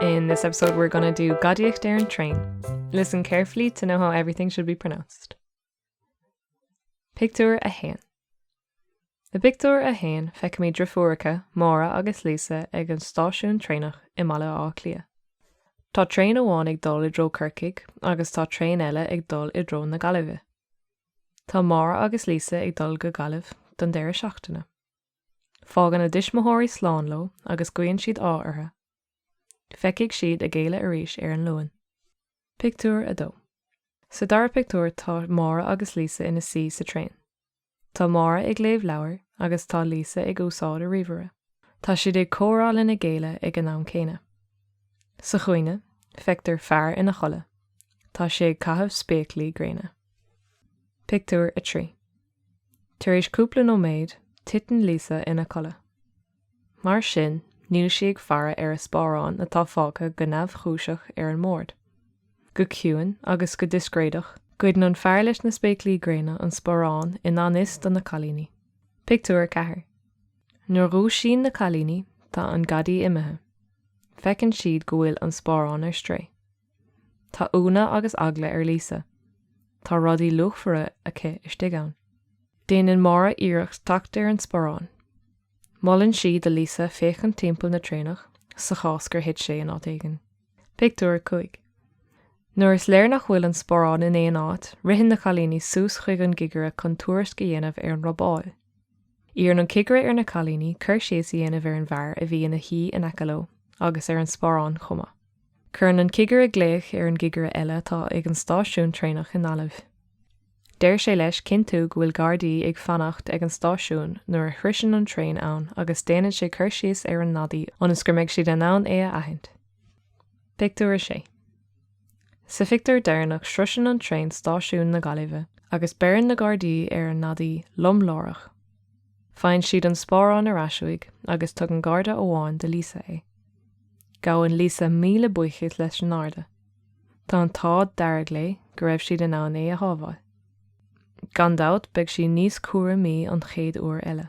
In this episode we're gonna do gadaíocht ar an train. Listen carefully to know how everything should be pronounced. Pictiúr 1 I bpictiúr 1 feicimid drifiúracha, Máire agus Lisa ag an stáisiún traenach i mBaile Átha Cliath. Tá traein amháin ag dul i dtreo Corcaigh agus tá traein eile ag dul i dtreo na Gaillimhe. Tá Máire agus Lisa ag dul go Gaillimh don deireadh seachtaine. Fágann a dtuismitheoirí slán leo agus guíonn siad ádh orthu. Feicfidh siad a gcéile arís ar an Luan. Pictiúr 2 Sa dara pictiúr tá Máire agus Lisa ina suí sa traein. Tá Máire ag léamh leabhair agus tá Lisa ag úsáid a ríomhaire. Tá siad ag comhrá lena gcéile ag an am céanna. Sa chúinne, feictear fear ina chodladh. Tá sé ag caitheamh spéaclaí gréine. Pictiúr 3 Tar éis cúpla nóiméad, titeann Lisa ina codladh. Mar sin, níl sí ag faire ar a sparán atá fágtha go neamhchúiseach ar an mbord. Go ciúin agus go discréideach, goideann an fear leis na spéaclaí gréine an sparán i ngan fhios do na cailíní. Pictiúr 4 Nuair a dhúisíonn na cailíní, tá an gadaí imithe. Feiceann siad go bhfuil an sparán ar strae. Tá ionadh agus eagla ar Lisa. Tá rudaí luachmhara aici istigh ann. Déanann Máire iarracht teacht ar an sparán. Molann sí do Lisa féachaint timpeall na traenach, sa chás gur thit sé in áit éigin. Pictiúr 5 Nuair is léir nach bhfuil an sparán in aon áit, ritheann na cailíní suas chuig an gcigire chun tuairisc a dhéanamh ar an robáil. Iarrann an cigire ar na cailíní cur síos a dhéanamh ar an bhfear a bhí ina shuí in aice leo agus ar an sparán chomh maith. Cuireann an cigire glaoch ar an gcigire eile atá ag an stáisiún traenach i nGaillimh. Deir sé leis cinntiú go bhfuil Gardaí ag fanacht ag an stáisiún nuair a shroiseann an traein ann agus déanann sé cur síos ar an ngadaí ionas gur mbeidh siad in ann é a aithint. Pictiúr 6 Sa phictiúr deireanach sroiseann an traein stáisiún na Gaillimhe agus beireann na Gardaí ar an ngadaí lom láithreach. Faigheann siad an sparán ar ais uaidh agus tugann Garda amháin do Lisa é. Gabhann Lisa míle buíochas leis an nGarda. Tá an t-ádh dearg léi go raibh siad in ann é a shábháil. Gan dabht beidh sí níos cúramaí an chéad uair eile.